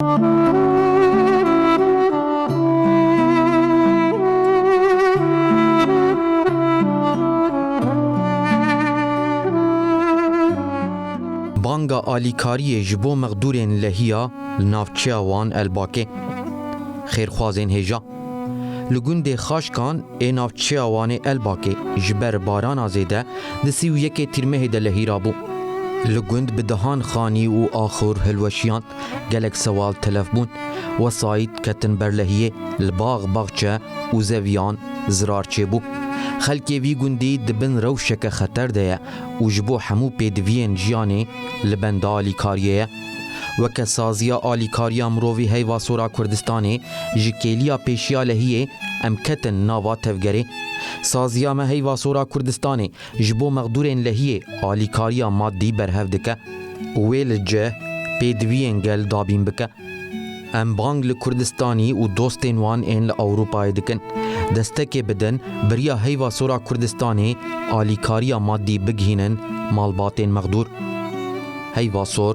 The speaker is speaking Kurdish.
Banga alîkariyê ji bo mexdûrên lehiya li navçeya wan Elbakê. Xêrxwazên hêja. Li gundê Xaşkan ê navçeya Wanê Elbakê ji ber barana zêde di sî û yekê tîrmehê de lehî rabû. Li gund bi dehan xanî û axur hilweşiyand. Gelek sewal telef bûn. Wesayît ketin berlehiyê, li bax baxçe û zeviyan zirar çêbû. Xelkê vî gundî di bin rewşeke xeter de ye û ji bo hemû pêdiviyên jiyanê li benda alîkariyê ye. Weke saziya alîkariya mirovî heyva sora Kurdistanê ji kêliya pêşiya lehiyê em ketin nava tevgerê. Saziya me heyva sora Kurdistanê Ji bo mexdûrên lehiyê alîkariya maddî berhev dike û wê li cih pêdiviyên gel dabîn bike. Em bang li Kurdistanî û dostên wan ên li Ewropayê dikin, destekê bidin biriya heyva sora Kurdistanê alîkariya maddî bigihînin malbatên mexdûr. Heyva sor